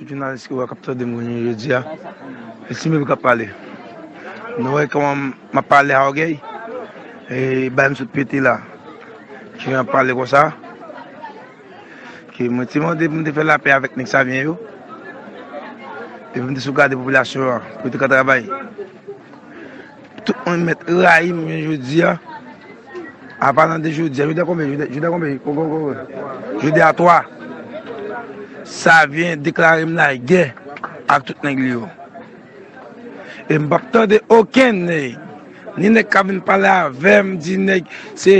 Tout jounalis ki wè kap tande m kounye jodi a, e si mwen kap pale. Nou wè kòman map pale a ògèy? E bay m sot pete la. Ki jan pale konsa? Mwen te mande pou m te fè lapè avèk nèg savyen yo e pou m te sovgade popilasyon an pou yo te ka travay. Tout moun mèt rayi m jounen jodi a, apa nan de jodi a. Jodi a konbyen? Jodi a konbyen? Jodi a 3. Savyen deklare m lagè ak tout nèg li yo. E m p ap tande okenn nèg, ni nèg k ap vin pale avè m, ni nèg se...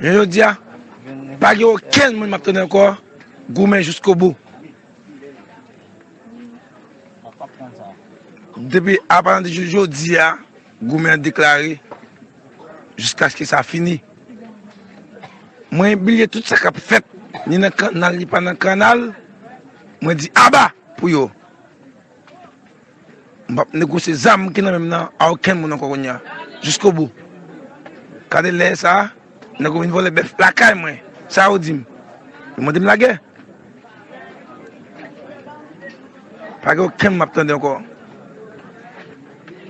Jounen jodi a, pa gen okenn moun m ap tande ankò goumen jiskobou. Depi apati jou jodi a, goumen an deklare jiskaske sa fini. Mwen bliye tout sa k ap fèt, ni nan kannal ni pa nan kannal, mwen di aba pou yo. M pap negosye zam ki nan menm nan a okenn moun ankò kounya jiskobou. Gade lè sa nèg yo vin vòlè bèf lakay mwen sa yo dim? Yo mande m lagè? Pa gen okenn m ap tande ankò.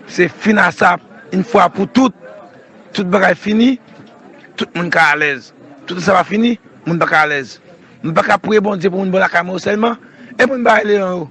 Se fin a sa yn fwa pou tout. Tout bagay fini, tout moun ka alèz. Toutan sa pa fini, moun pa ka alèz. M pa ka priye Bondye pou moun bon lakay mwen yo sèlman? E moun Baye Leon yo?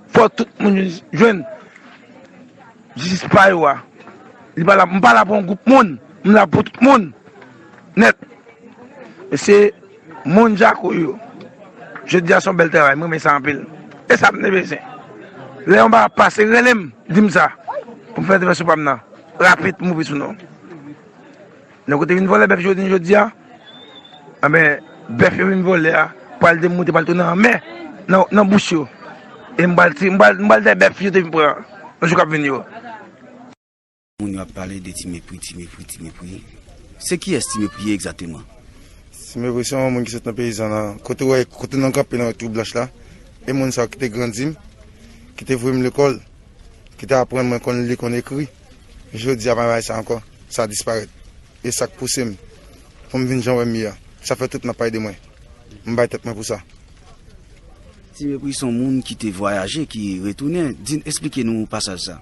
Fò tout moun jwenn jistis pa yo a. Li pa la, m pa la pou yon gwoup moun, m la pou tout moun nèt. E se moun jako yo. Jodi a se yon bèl travay, m renmen sa anpil. E sa m te bezwen. Lè yon bagay ap pase, rele m, di m sa pou m fè entèvansyon pa m nan rapid pou m ouvri sou non w. Nèg yo te vin vòlè bèf jodi jodi a, anben bèf yo vin vòlè a pral demoute pral tounen anmè nan bouch yo e m pral m pral dèy bèf yo te vin pran nan jou k ap vini yo. Moun yo ap pale de ti mepri, ti mepri, ti mepri. Se kiyès ti mepri ye egzateman? Ti mepri se yon moun ki sot nan peyizan la. Kote ou wè, kote nan kanpe nan twou blanch la, e moun sa ki te grandi m, ki te voye m lekòl, ki te aprann mwen konn li, konn ekri. Jodi a, pa bay sa ankò, sa disparèt. E sa k pouse m pou m vin jan w wè m ye a. Sa fè tout m ap pale de mwen. M bay tèt mwen pou sa. Ti Mepri s on moun ki te vwayaje, ki retounen. Di n, esplike nou pasaj sa.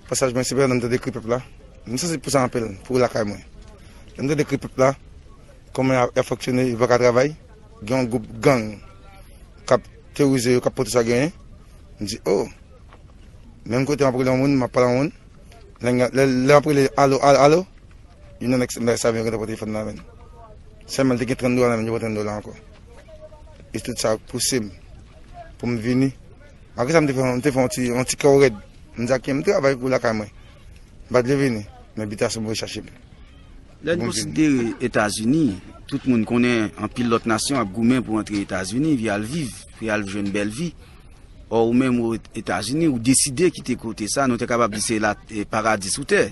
Pasaj mwen se pandan m t ap dekri pèp la. M sansib pou sa anpil, pou lakay mwen. Lè m t ap dekri pèp la, kòman y ap fonksyone, yo pa ka travay. Gen yon gwoup gang k ap teworize yo, k ap pote sa genyen. M di, o! Menm kote m ap rele yon moun, m ap pale ak yon moun, lè m ap rele alo, alo, alo, youn nan nèg Mèk sa vin rantre pote fon nan men m. Sèlman l te gen 30 dola nan men l, yo pran 30 dola ankò. E tout sa pouse m pou m vini. Malgre sa m te fè, m te fè yon ti kè w rèd. M di Aken, m travay kou lakay mwen. M pa t vle vini, men Bitasyon voye chache m. Lè n konsidere Etazini, tout moun konnen anpil lòt nasyon ap goumen pou antre Etazini, pou y al viv, pou y al jwenn bèl vi. Ò ou menm ou Etazini, ou deside kite kote sa, nou te kapab di se la paradi sou tè.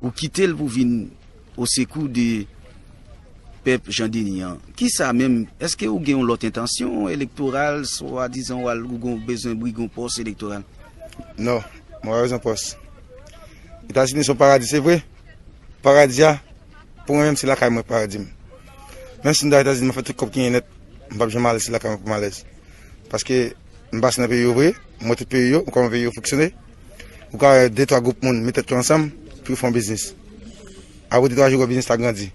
Ou kite l pou vin osekou de pèp Jan Deni an. Kisa menm, eske ou gen yon lòt entansyon elektoral, swa dizan ou al ou gen yon bezwen brigue yon pòs elektoral? Non, mwen pa bezwen pòs. Etazini se yon paradi se vre, paradi a pou mwen menm se lakay mwen paradi m. Menm si m ta Etazini m ap fè tout kòb ki gen nèt, m pap janm ale se lakay mwen pou m alèz. Paske m pase nan peyi yo vre, m wè tout peyi yo, m kòman peyi yo fonksyone. Ou ka wè de twa gwoup moun met tèt yo ansanm pou yo fè yon biznis. Apre de twa jou ou wè biznis la grandi.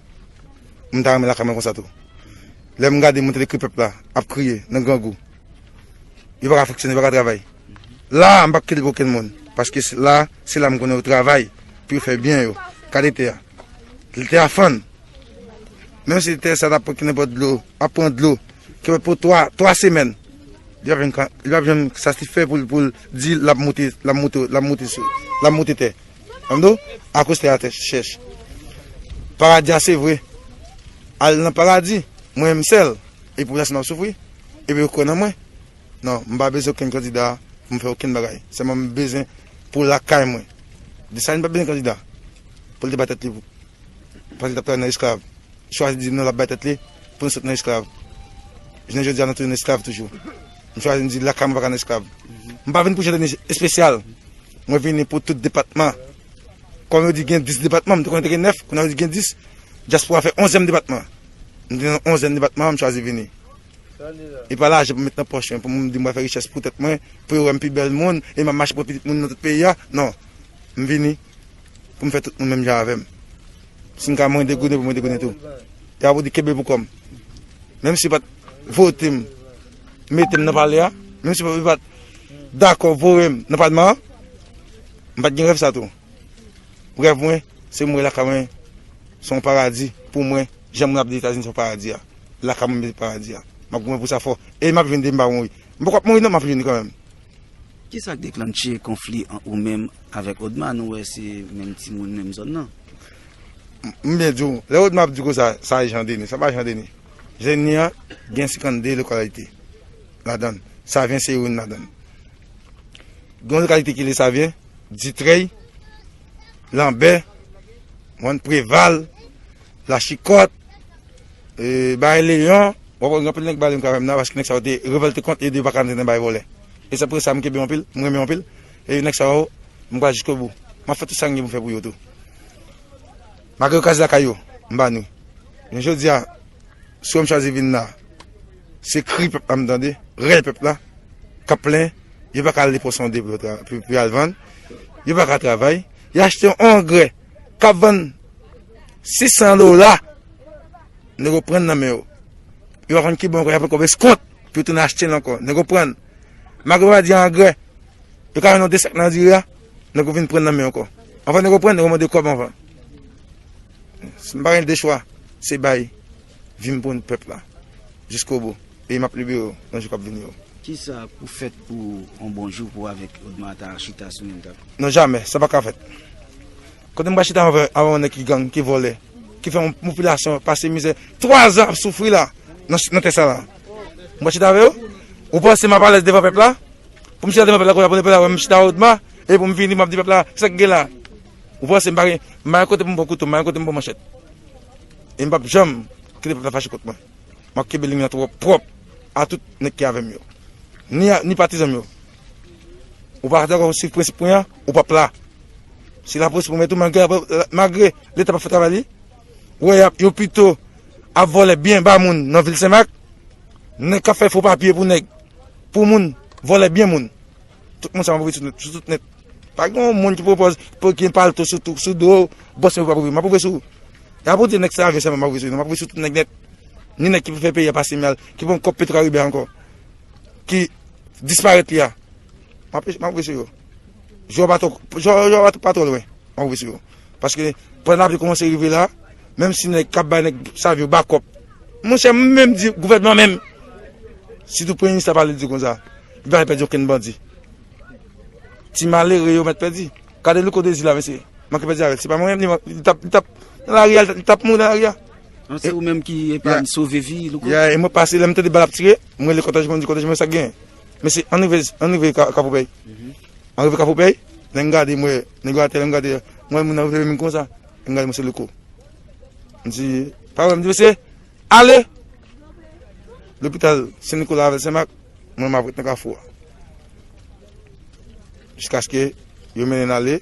M ta renmen lakay mwen konsa tou. Lè m gade moun tèt ekri pèp la ap kriye nan grangou. Yo pa ka fonksyone, yo pa ka travay. La a m pa p kritike okenn moun. Paske la a, se la m konnen yo travay pou yo fè byen yo. Gade tè a. Tè a fann. Menm si tè sa ta pran ki nenpòt dlo, ap pran dlo. Ke pou 3 3 semèn li pap jwenn li pap jwenn satisfè poul poul di lap moute lap moute lap moute sou lap moute tè tande w akoz tè a tè chèch paradi a se vre al nan paradi mwen m sèl e pou rès m ap soufri epi yo kwè nan mwen nan m pa bezwen okenn kandida pou m fè okenn bagay sèlman m bezwen pou lakay mwen Dessalines pat bezwen kandida pou l te ba tèt li Pandan li t ap travay nan esklav, li chwazi di m non l ap bay tèt li pou nou sot nan esklav. Jounen jodi a nou tounen esklav toujou. M chwazi m di lakay mwen pa ka nan esklav. M pa vin pou Jandèmi espesyal, mwen vini pou tout depatman. Kòm yo di gen 10 depatman, m te konnen te gen 9, kounye a yo di gen 10, dyaspora fè onzyèm depatman. M te nan onzyèm depatman an, m chwazi vini. E pa lajan pou m met nan pòch mwen pou m di m pral fè richès pou tèt mwen, pou yo wè m pi bèl moun e m ap mache pran pitit moun nan tout peyi a. Non, m vini. Pou m fè tout moun menm jan avè m. Si m ka mwen degounen pou mwen degounen tou. Epi apre w di kenbe pou kò m. Menm si yo pa t vote m, mete m nan palè a, menm si yo pa t dakò voye m nan palman an, m pa t gen rèv sa tou. Rèv mwen, se mwen wè lakay mwen se yon paradi pou mwen, jan moun ap di Etazini se yon paradi a. Lakay mwen menm se paradi a. M ap goumen pou sa fò. E m ap jwenn depi m pa mouri. M poko ap mouri non, m ap jwenn li kanmenm. Kisa k deklanche konfli ant ou menm avèk Odma nou wè se menm timoun menm zòn nan. M byen di w, lè Odma ap di kosa sa e Jan Deni, sa pa Jan Deni. Jan Deni an gen 52 lokalite ladan l, Savyen se youn ladan l. Gen yon lokalite ki rele Savyen, Ditrèy, Lanbè, Preval. Lachikòt, bay leyon, wap wè gen anpil nèg baleine kavèm nan paske nèg sa yo te revòlte kont e yo paka antre nan bay vòlè. E se poutèt sa mwen kenbe yo anpil, mwen renmen yo anpil e nèg sa yo mwen pral jiskobou. Map fè tout sa mwen gen pou mwen fè pou yo tou. Malgre yo kraze lakay yo, m ba nou. Men jodi a, si wèm chwazi vin la, se kri pèp la m tande, rèl pèp la kap plen, yo paka ale pwosonde pou yo al vann, yo paka travay, yo achte yon angrè kap vann 600 dola nèg yo pran nan men yo yo pa konn ki bon ankò yo pran kòb eskont pou yo tounen achte l ankò nèg yo pran malgre yo pa di angrè yo ka vann nou 2 sak nan diri a nèg yo vin pran nan men yo ankò anvan nèg yo pran nèg yo mande kòb anvan m pa gen 2 chwa se bay. Vin pou n pèp la jiskobou e m ap libere w nan jou k ap vini yo. Kisa pou fèt pou yon bon jou pou w avèk Odma ta chita sou menm tab? Non jamè, sa pa ka fèt. Kote m pral chita avè w yon nèg ki gang, ki vòlè, ki fè yon popilasyon an pase mizè, 3 zan ap soufri la nan tè sa la. M pral chita avè w? Ou panse m ap alèz devan pèp la? Pou m chita devan pèp la kounya pou pèp la wè m chita avè Odma e pou m vini m ap di pèp la sa k gen la? Ou panse m pa gen, m pa gen kote pou m pran kouto, m pa gen kote pou m pran manchèt? E m pap janm kite pèp la fache kont mwen. M ap kenbe liy mwen pwòp ak tout nèg ki avè m yo. Ni patizan m yo. Ou pa dakò suiv prensip mwen an, ou pap la. Se lapolis pou mèt ou malgre Leta pap fè travay li. Ou wè yo pito ap vòlè byen ba moun nan vil Senmak. Nèg k ap fè fo papye pou nèg, pou moun, vòlè byen moun. Tout moun sa yo move sou tout nèt. Pa gen yon moun ki pwopòz pou gen palto sou tou, sou do, bòs mwen pa pwouve, map pwouve sou, e pa pou di nèg sa avyon sèlman map pwouve sou li non, map pwouve sou tout nèg nèt, ni nèg ki pou fè peyi a pase mal, ki pran kòb petro karibe ankò, ki disparèt li a, map pwouve sou yo, jou a pa twò, jou a pa twò lwen, map pwouve sou yo, paske pwen lapli koumanse rive la, menm si nèg kap bay nèg sa avyon bakòp, mwen chè mwen menm di gouvènman menm, si tou premye minis la pale di konsa, li pa pèdi okenn bandi. Ti malere yo mèt pèdi. Gade louko dezi la mesye. Manke pèdi avèl. Se pa mwen menm li tap li tap nan lari a li tap mouri nan lari a. An se ou menm ki epa m sove vi louko. Yeah e mwen pase lèm tande bal ap tire m rele kotèj mwen di kotèj mwen sak genyen. Mesye an rive an rive kapopèy. An rive kapopèy lè m gade m wè nèg yo atè lè m gade m wè moun nan leve menm konsa lè m gade m wè se louko. M di pa wèm di mesye. Ale! Lopital Sen Nikola avèl Sen Mak, mwen map ret nan kafou a. Jiskaske yo mennenn ale,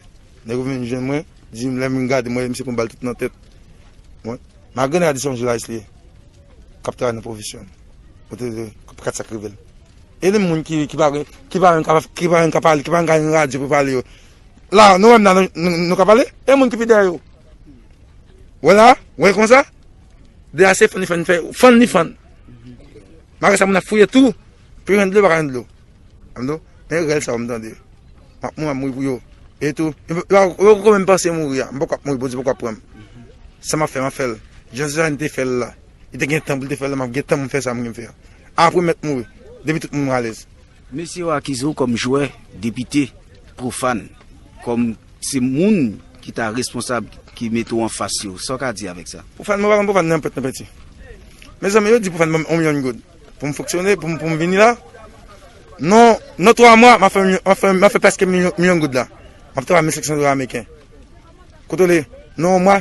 nèg yo vin jwenn mwen, dim lèm vin gade mwen wè misye pran bal tout nan tèt. Mwen, malgre nèg la di se yon jounalis li ye, kap travay nan pwofesyon li. Mwen te di, kap gad sak rivel. E li menm moun ki pa gen, ki pa menm ka, ki pa menm ka pale, ki pa menm ka gen radyo pou pale yo. La, nou wèm la, nou ka pale? E moun ki pi dèyè yo? Wè la, wè konsa? De ase fann li fann fè ou fann li fann. Malgre sa moun ap fouye tou pou jwenn dlo pa ka jwenn dlo. An do, men rèl sa ou m tande. Map mou ap mouri pou yo. E tou, yo kou menm panse mouri a. M poko ap mouri bondye poko ap pranm. Sa map fè map fèl. Jan Suzanne te fèl la. Li te gen tan pou l te fèl la map gen tan pou m fè sa m gen pou m fè. Apre m mèt mouri. Depi tout moun alèz. Mesye yo akize w kòm jwè, depite, profane, kòm se moun ki ta responsab ki mete w anfas yo. Sa w ka di avèk sa? Profane, mwen pa konn profane nanpwen, nanpwen ti. Mezanmi, yo di profane ban m yon milyon goud pou m fonksyone, pou m vini la. Non, nan twa mwa, m ap fè, m ap fè prèske milyon goud la. M ap travay mil senk san dola ameriken. Kontwole, nan yon mwa,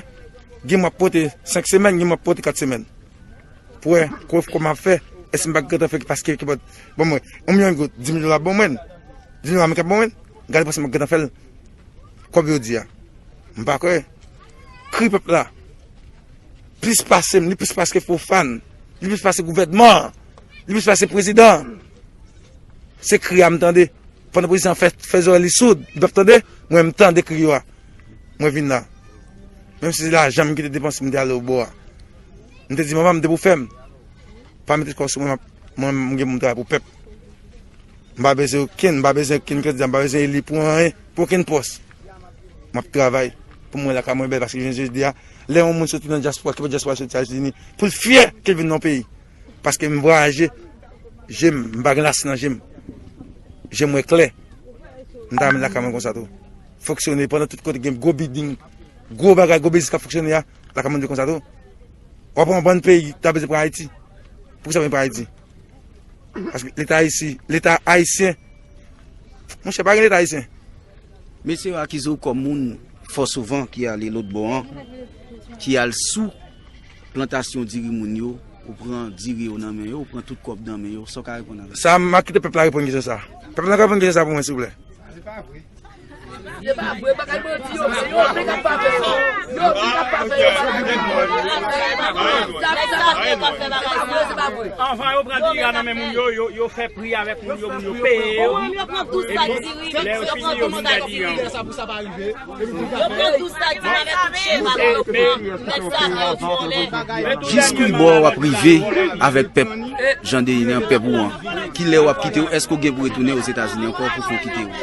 gen mwa m ap pote senk semèn, gen mwa m ap pote kat semèn. Pou wè kòf kòm ap fè. Èske m pa gentan fè paske ki pòt ban mwen 1 milyon goud, 10 mil dola ap ban mwen? 10 mil dola menm ki ap ban mwen? Gade pase m pa gentan fè l. Kòb yo di a. M pa kwè. Kri pèp la. Plis pase m, li plis pase ke Fofana, li plis pase gouvènman an, li plis pase prezidan an. Se kri a m tande. Pandan prezidan an fè zorèy li soud, li pa p tande, mwen m tande kri yo a. Mwen vin la. Menm si se lajan m ki te depanse m te ale obò a. M te di manman m te pou fè m. Pa mete kò sou mwen mwen m gen pou m travay pou pèp. M pa bezwen okenn, m pa bezwen okenn kandida, m pa bezwen eli pou anyen, pou okenn pòs. M ap travay pou m wè lakay mwen bèl paske jounen jodi a lè yon moun soti nan dyaspora, ki pa dyaspora soti Etazini pou l fyè ke l vin nan yon peyi paske m vwayaje, je m, m pa gen lasi nan je m. Je m wè klè. M ta renmen lakay mwen konsa tou. Foksyone pandan tout kote gen gwo biding, gwo bagay, gwo biznis k ap foksyone a. La ka mande konsa tou. Wap wè yon bann peyi ta bezwen pran Ayiti. Pou kisa yo vin pran Ayiti? Paske leta ayisi, leta ayisyen. Monchè pa gen leta ayisyen. Mesye yo akize w kòm moun fò souvan ki ale lotbò an, ki al sou plantasyon diri moun yo, ou pran diri yo nan men yo, ou pran tout kòb nan men yo, sa w ka reponn avèk sa? Sa, m ap kite pèp la reponn kesyon sa. Pèp la ka reponn kesyon sa pou mwen silvouplè? Jiskwi bò wap rive avèk pèp Jan Dehine an, pèp ou an? Kilè wap kite ou? Eske ou gen pou retounen Ozetazini ankò pou fon kite ou?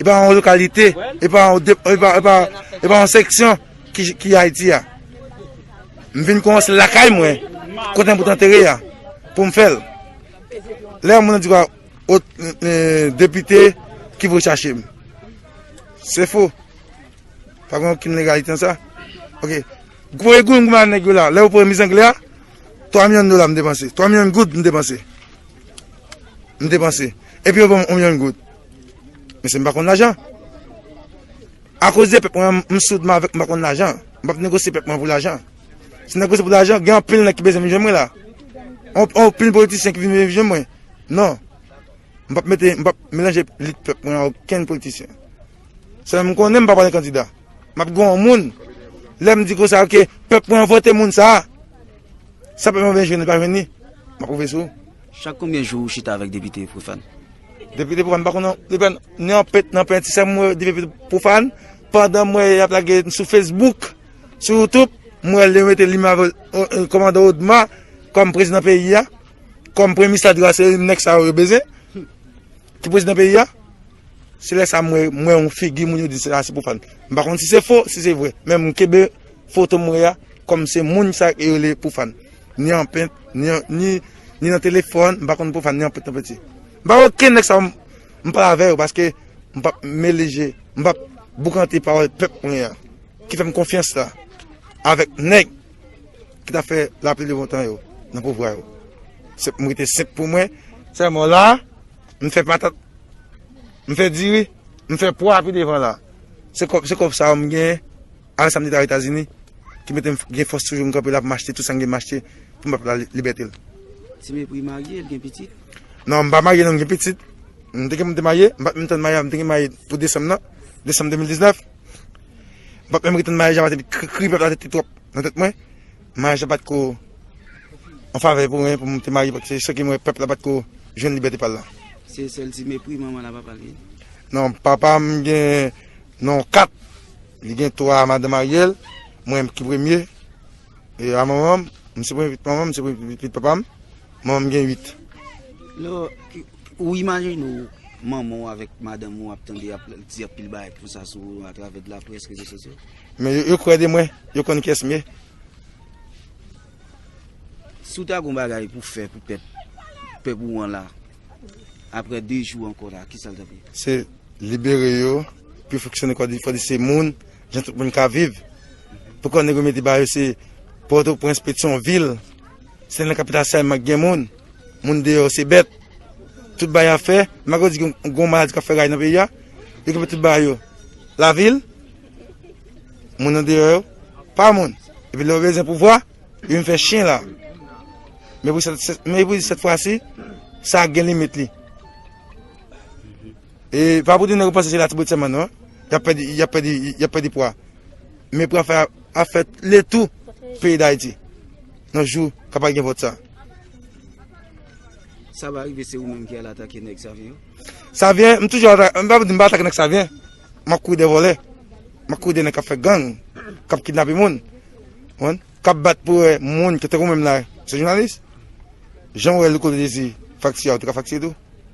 E pa yon lokalite, e pa yon dep, e pa yon seksyon ki Ayiti a. M vin koumanse lakay mwen, kote m pou tantere a, pou m fèl. Lè yon moun di kwa, o depite ki vou chache m. Se fou. Pa gen yon ki legalite an sa. Ok. Gwo e goun gouman nèk yo la, lè yo pou yon mizangle a, 3 milyon dola m depanse. 3 milyon goud m depanse. M depanse. E pi yo pou yon milyon goud. Mesye m pa konn lajan. A koz de pèp mwen an m soudman avèk m pa konn lajan. M pap negosye pèp mwen pou lajan. Si m negosye pou lajan, gen anpil nèg ki bezwen vin jwenn mwen la. Anpil politisyen ki vin bezwen vin jwenn mwen. Non. M pap mete, m pap melanje lit pèp mwen a okenn politisyen. Sèl m konnen m pa pale kandida. M ap gen yon moun. Lè m di konsa ke pèp mwen an vote moun sa a. Sa pèp mwen vle jwenn li pa jwenn li. M ap pwouve sou. Chak konbyen jou ou chita avèk depite Profane? Depi depi wan pa konnen depi wan ni an pent ni an penti sèm wè depi depi pou fan pandan mwen y ap lage sou fesbouk sou youtube mwen wè li mete li mave komando odma kòm prezidan peyi a kòm premye minis la di a se nèg sa yo yo bezyen ki prezidan peyi a se lè sa mwen mwen yon figi moun yo di se a se pou fan m pa konnen si se fo si se vre men m kebe foto mwen a kòm se moun sa yo le pou fan. Ni anpent, ni nan telefòn, m pa konn pwofàn, ni anpent, ni anpenti. M pa wè okenn nèg sa yo m pale avè yo paske m pap mele je, m pap boukante pawòl pèp mwen an ki fè m konfyans la avèk nèg ki ta fè lapli de bon tan yo nan pouvwa yo. M rete senp pou mwen. Sèlman la, m fè patat, m fè diri, m fè pwa pi devan la. Se kòb sa yo m gen. Al sa m te ta Etazini ki mete m gen fòs toujou m kanpe la pou m achte tout sa m gen m achte pou m ba pèp la libète l. Ti Mepri marye, l gen pitit? Non, m pa marye non, m gen pitit. M te gen pou m te marye, m pa t menm tann maryaj, m te gen marye pou desanm nan, desanm 2019. M pa t menm retann maryaj la paske kri pèp la te twòp nan tèt mwen. Maryaj la pa t ko an favè pou mwen pou m te marye paske san ke m wè pèp la pa t ko jwenn libète pa l la. Se sèl Ti Mepri manman l ap ap pale? Non, papa m gen non 4. Li gen 3 madanm Ariel, mwen ki premye, e a manmanm, mwen se premye pitit manmanm, mwen se premye pitit papam, manmanm gen 8. Lè ou imajine ou manman ou avèk madanm ou ap tande yap di anpil bagay konsa sou ou atravè de laprès, rezo sosyo. Men yo kwè de mwen, yo konn kiyès m ye. Si ou ta gon bagay pou fè pou pèp, pèp ou an la, aprè 2 jou ankò la, kisa l tap ye? Se libere yo. pou yo fonksyone kò di fò di se moun jan tout moun ka viv pou kò nèg yo mete ba yo se pòtoprens petion vil se nan kapital sa yèm ak gen moun moun deyò se bèt tout ba ya fè mago di goun maladi ka fè ray nan peyi ya yo kèmè tout ba yo la vil moun nan deyò yo pa moun epi lè yo bezè pou vwa yo vin fè chien la mè pou sèt fwa si sa gen limit li E pa pou tounen repanse se Latibonit sèlman non, y ap pèdi, y ap pèdi, y ap pèdi pwa. Men pou afè a ap fè le tou peyi Dayiti nan jou k ap al gen vòt sa. Sa va rive se ou menm ki al atake nèg Savyen yo? Savyen, m toujou atake, m pa pou di m pa atake nèg Savyen. M ap kouri dèyè vòlè, m ap kouri dèyè nèg k ap fè gang, k ap kidnape moun, konprann, k ap bat pou wè moun ki tankou mwen m la, se jounalis, jan w wè Louko te di fakti a ou te ka fakti l tou.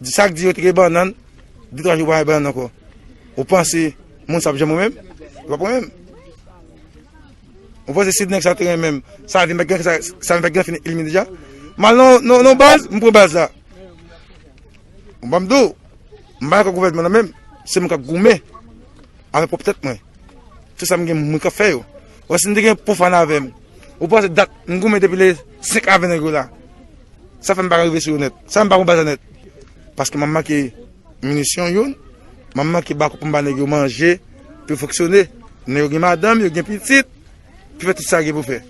Di sak di yo te gen bannan, 2 3 jou pa gen bannan ankò. Ou panse moun sa ap janm renmenm? Yo pap renmenm. Ou panse si nèg sa te renmenm, sa vin met sa vin met gen fini elimine deja? Mal non non non baz, m pran baz la. M banm do, m pa dakò gouvènman nan menm, se mwen kap goumen avèk pwòp tèt mwen. Se sa m gen mwen kap fè yo. Bon si m te gen pou fan avè m, ou panse dat m goumen depi le 5 avè nèg yo la, sa fè m pa rive sou yo nèt? Sa fè m pa pran baza nèt? Paske m ap manke minisyon youn, m ap manke bako pou m ba nèg yo manje pou yo fonksyone. Nèg yo gen madanm, yo gen pitit, pou fè tout sa yo gen pou fè.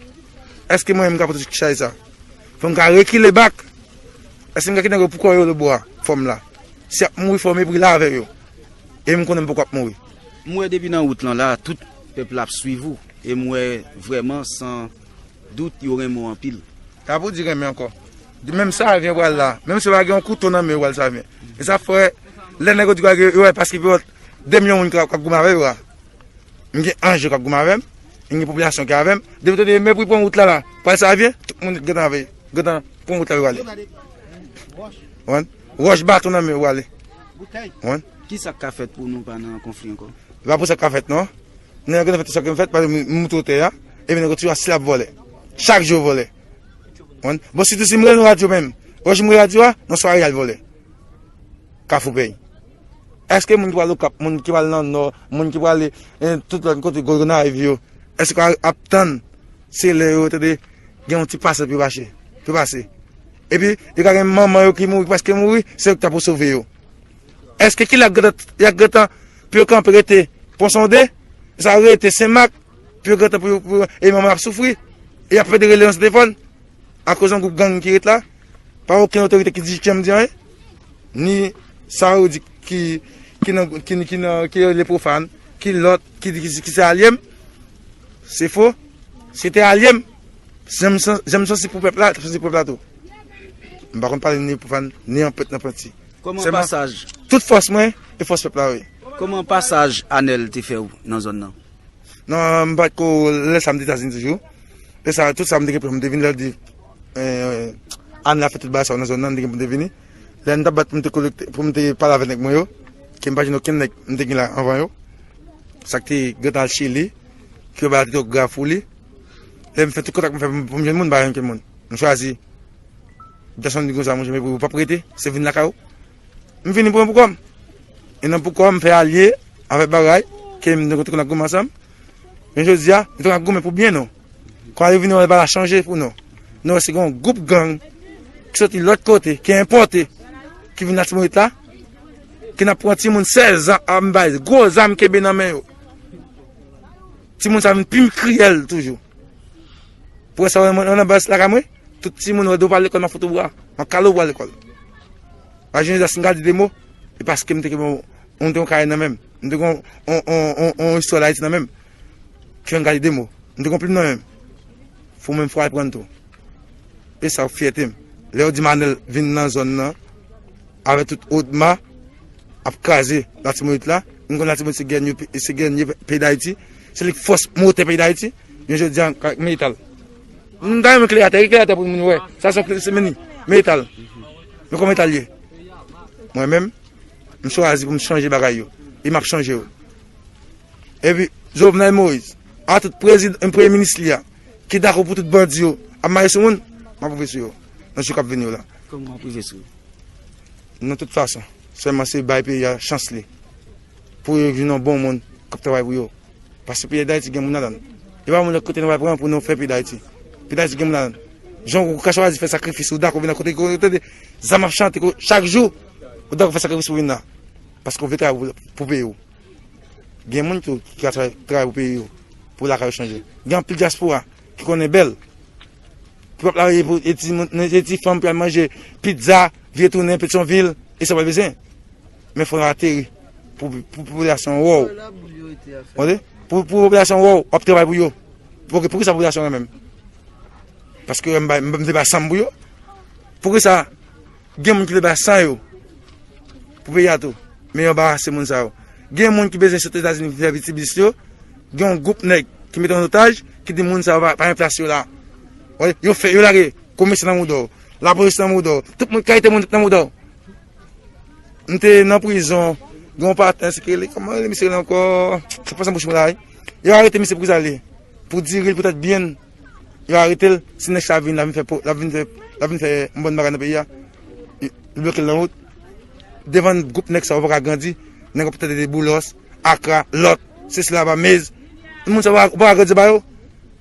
Eske mwen menm m ka pote tout chay sa? Fò m ka rekile bak. Eske m ka kite nèg yo pou kò yo lòbò a? Fò m la. Si y ap mouri fò m epri la avè yo. E m konnen m poko ap mouri. M wè depi nan wout lan la a tout. Pèp la ap swiv ou e m wè vrèman san dout yo renmen w anpil. Sa pou di renmen ankò. Di menm Savyen pral la, menm si yo pa gen yon kouto nan men yo pral Savyen. E sa fè lè nèg yo di bagay yo wè paske pi fò 2 milyon moun k ap goumen avè yo a. M gen anj yo k ap goumen avè m, m gen popilasyon ki avè m. Depi yo tande yo mèpri pran wout la la, pral Savyen, tout moun gen tan veye, gen tan pran wout la yo ale. Wòch, baton nan men yo ale. Konprann? Ki sa k ka fèt pou nou pa nan konfli ankò? Se pa pou sa k ka fèt non. Nèg lan gentan fè tout sa k gentan fèt, pa egzanp, m moute otè a, epi nèg lan toujou asile ap vole. Chak jou yo vole. Konprann? Bon, sitou si m rele radyo menm. Yon jou m rele radyo a, yon sware y al vole. Kafoupèy. Èske moun ki pral Okap, moun ki pral nan Nò, moun ki prale tout lòt kote Gonayiv yo, èske yo ap tann se lè yo tande gen yon ti pase pou yo mache, pou yo pase? Epi yo ka gen manman yo ki mouri preske mouri, se yo ki ta pou sove yo. Eske ki la ya gentan pou yo kanpe rete ponsonde, sa yo rete senmak pou yo gentan pou yo e manman ap soufri, e ap fede rele yon setefòn akoz yon goup gang ki ret la, pa oken otorite ki di kiyèm di anyen, ni sa yo di ki ki le profan, ki lòt ki di ki se alyem, se fo, se te alyem. Janm sansi pou pèp la, janm sansi pou pèp la tou. M pa konn pale ni pou fane, ni an pèt nan pwenti. Kòman pasaj. Tout fòs mwen, e fòs pèp la wi. Kòman pasaj Anèl te fè ou nan zòn nan? Nan m pa ko lè sa m te Etazini toujou. Lè sa tout sa m te gen pou m te vini lè di Anèl a fè tout bagay sa yo nan zòn nan m te gen pou m te vini. Lè m ta bat pou m te kolekte, pou m te pale avèk nèg mwen yo, ke m pa jwenn okenn nèg m te gen la anvan yo. Sa k te gen tan al Chili, ki yo bay la tèt yo grafou li. Lè m fè tout kontak m fè pou m jwenn moun m pa jwenn okenn moun. M chwazi Jason di konsa monchè epi ou pap rete se vin lakay ou. M vini pou mwen poukò m. E nan poukò m fè alye avèk bagay ke m te konn ap goumen ansanm. Men jodi a m te konn ap goumen pou byen nou. Kò a yo vini wè bagay la chanje pou nou. Nou wè se gen yon gwoup gang ki soti lòt kote, ki enpòte, ki vin Latibonit la, ki nan pran timoun 16 zan anba gwo zam kenbe nan men yo. Ti moun sa vin pi kriyèl toujou. Pou wè sa wè mwen nan bas lakay mwen, tout ti moun wè do pa lekòl nan foto bwa, nan kale bwa lekòl. Wè jounen jòs nga di de mou, e paske mwen te gen mwen mwen te yon kay nan menm, mwen te gen yon istwa la iti nan menm, ki fè mwen gade de mou. Mwen te gen plim nan menm, fò mwen fwa l pran tou. E sa wè fyète m. Lè yo di manèl vin nan zòn nan. Avè tout odma ap kraze latibonit la nou konn latibonit se gènye se gènye peyi dayiti se lik fòs motè peyi dayiti jounen jodi an ak metal m ta renmen klere atè gen klere atè pou moun wè sa son se meni metal nou konn metal ye mwen menm m chwazi pou m chanje bagay yo e m ap chanje yo epi jovenel moïse a tout prezid m premye minis li a ki dakò pou tout bandi yo ap mache sou moun m ap rive sou yo nan jou k ap vini yo la kòman w ap rive sou yo nan tout fason. Sèlman se bay peyi a chans li. Pou yo vin yon bon moun k ap travay pou yo. Paske peyi Dayiti gen moun ladan l. E pa moun lòt kote nou pral pran pou nou fè peyi Dayiti. Peyi Dayiti gen moun ladan l. Jan ou ka chwazi fè sakrifis ou dakò vin nan kote ki kote tande zam ap chante chak jou ou dakò fè sakrifis pou vin la. Paske ou vle travay pou peyi ou. Gen moun tou ki ka travay pou peyi yo pou lakay yo chanje. Gen anpil dyaspora ki konnen bèl. Pwòp la ye pou e timoun e ti fanm pral manje pizza vye tounen petyonvil e sa pral bezwen men fò yo ateri pou popilasyon wòw tande pou popilasyon wòw wap travay pou yo ok poukisa popilasyon renmen m paske m bay m vle bay sanm pou yo poukisa Gen moun ki vle bay san yo pou peyi a tou, men yo anbarase moun sa yo. Gen moun ki bezwen sot Etazini vin fè vitiblis yo, gen yon gwoup nèg ki mete an otaj ki di moun sa yo pa gen plas yo la. Yo fè, yo lage komèsan nan mouda w, lapolis nan mouda w, tout moun, kalite moun tout nan mouda w. M te nan prizon, gen yon patnè se ki rele, kòman rele misye rele ankò? Sa pase nan bouch mwen la wi. Yo arete misye pou ki sa l ye? Pou diri l, pou tèt byen l? Yo arete l, si nèg sa vin lap vin fè lap vin fè lap vin fè yon bòn bagay nan peyi a, yo bloke l nan wout. Devan gwoup nèg sa yo ou paka grandi, nèg yo pètèt de Boulos, Akra, lòt, se sila ba Meyz. Moun sa yo ou paka grandi ba yo.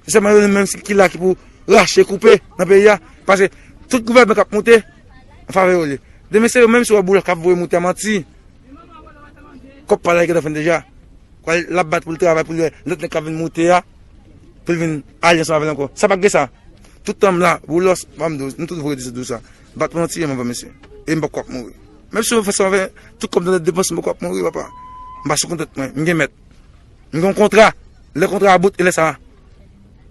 Se sèlman yo menm ki la ki pou rache, koupe nan peyi a. Pase tout gouvènman kap moute, an favè yo l ye. Demen se yo menm si ou wè Boulos kap voye moute a manti. Kòp pala gen dèfen deja. Kwa lap bat pou l travay pou l wè lòt nèg k ap vin moute a pou l vin alye ansanm avè l ankò. Sa pa gen sa. Tout tan m la, Boulos, banm di w, nou tout vre di se di w sa. Bat mwen an tiye m anvan mesye. E m pap kwa k mouri. Menm si yo fè sa avè tout kòm nan depans m pap kwa k mouri papa. M pa sou kont tèt mwen. M gen mèt. M gen yon kontra. Lè kontra a bout e lè sa.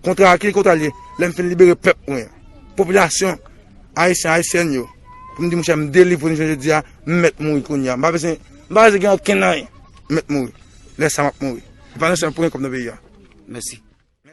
Kontra a ki kontra l ye? Lè m fin libere pèp mwen. Popilasyon ayisyen ayisyèn yo. Pou m di mouche m delivre nou jounen jodi a. M mèt mouri kounye a. M pa bezwen m pa bezwen gen okenn anyen. M mèt mouri. Lè sa a m ap mouri. E pa nou sèlman pou gen kòb nan peyi a. Mèsi.